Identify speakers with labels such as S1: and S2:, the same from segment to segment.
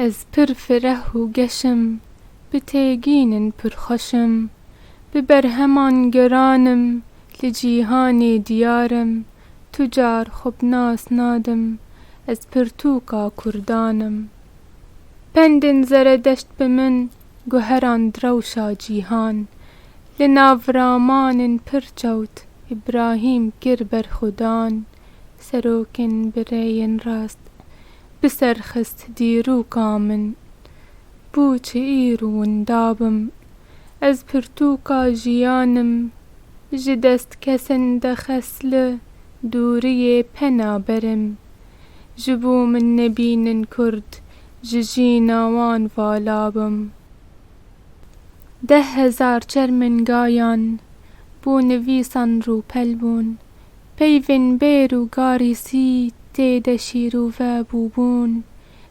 S1: Ez pir fireh û geş im, bi têgîn in pir xweş im, bi berheman geran im, li cîhanê diyar im, tu car xwe bi nas nadim, ez pirtûka kurdan im. Pendên zeredeşt bi min. Guheran rewşa cîhan. Li nav raman in pir çewt Îbrahîm kir berxwedan. Serok in bi rêyên rast bi ser xist dîrûka min. Bû çi îr û winda bim. Ez pirtûka jîyan im. Ji dest kesin dexes li dûriyê pena berim. Ji bo min nebînin kurd Ji jîna wan vala bim. Deh hezar çermingayan bo nivîsan rûpel bûn. Peyvên bêr û garîsî tê de şîrûve bûbûn.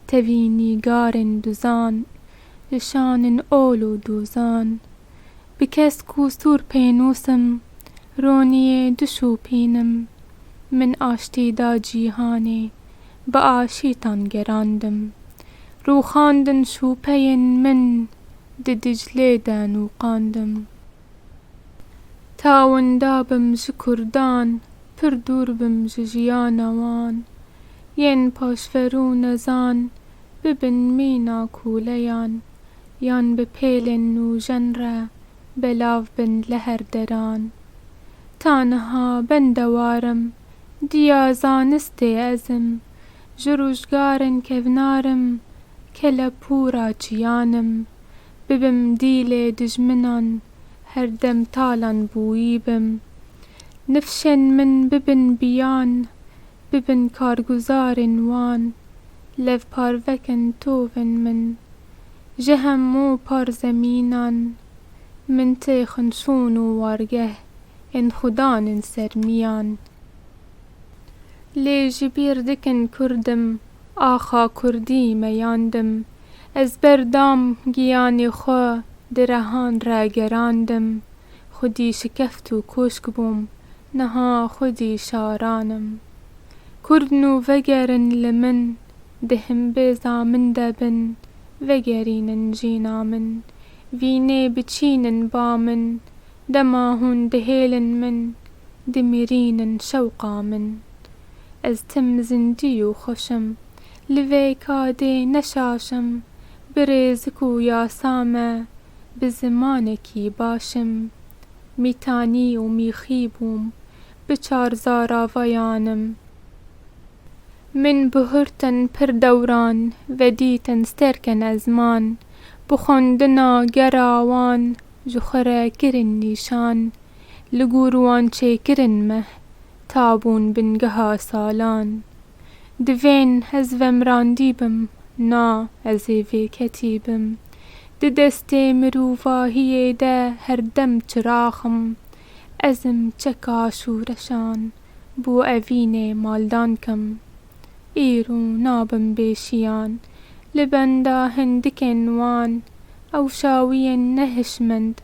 S1: Tevî nîgarên duzan, li şanin ol û dûzan. Bi kesk û sûr pênûsim, roniyê dişûpînim. Min aştî da cîhanê. bi aşîtan gerandim. Rûxandin şûpeyên min di Diclê de nûqandim. Ta winda bim ji kurdan pir dûr bim ji jiyana wan. Yên paşver û nezan bibin mîna kûleyan yan bi pêlên nûjen re belav bin li her deran. Ta niha ben de war im. Diya zanistê ez im, ji rojgarên kevnar im, kelepûra çiyan im, bibim dîlê dijminan, herdem talan bûyî bim. Nifşên min bibin biyan, bibin karguzarên wan, levparvekin tovên min. Ji hemû par zemînan, min tê xinçûn û wargeh Ên xwe dan in ser miyan. Lê ji bîr dikin Kurdim, axa Kurdî meyandim. Ez ber dam giyanê xwe di rehan re gerandim. Xwedî şikeft û koşk bûm, niha xwedî şaran im. Kurd nû vegerin li min, di himbêza min de bin, vegerînin jîna min. Vînê biçînin ba min. Dema hûn dihêlin min, dimirînin şewqa min. Ez tim zindî û xweş im, li vê kadê ne şaş im, bi rêzik û yasa me, bi zimanekî baş im. Mîtanî û mîxî bûm, bi çar zaravayan im. Min bi hurtin pir dewran, vedîtin stêrkên ezman, bi xwendina gera wan, Ji xwe re kirin nîşan. Li gor wan çêkirin meh. Ta bûn bingeha salan. Divên ez vemrandî bim. Na, ez ê vê ketî bim. Di destê mirovahiyê de her dem çirax im. Ez im çeka şûreşan. Bo evînê maldan kim. Îro nabim bê şiyan Li benda hindikên wan Ew şawiyên ne hişmend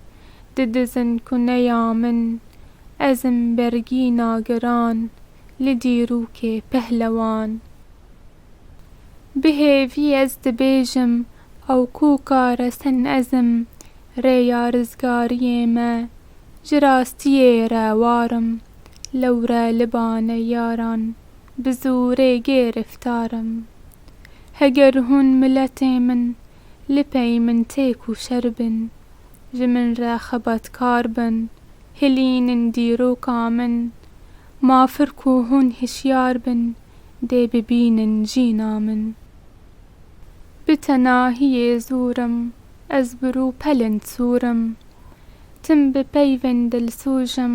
S1: Didizin ku ne ya min Ezim bergîna giran Li dîrokê pehlewan Bi hêvî ez dibêjim Ew ku kare sen ezim Rêya rizgariyê me Ji rastiyê re warim Lewre li bane yaran. bi zorê gêriftar im. Heger hûn miletê min li pey min têk û şer bin, ji min re xebatkar bin, hilînin dîroka min, mafir ku hûn hişyar bin dê bibînin jîna min. Bi tenahiyê zor im, ez bi rû pelin sor im. Tim bi peyvên dilsoj im,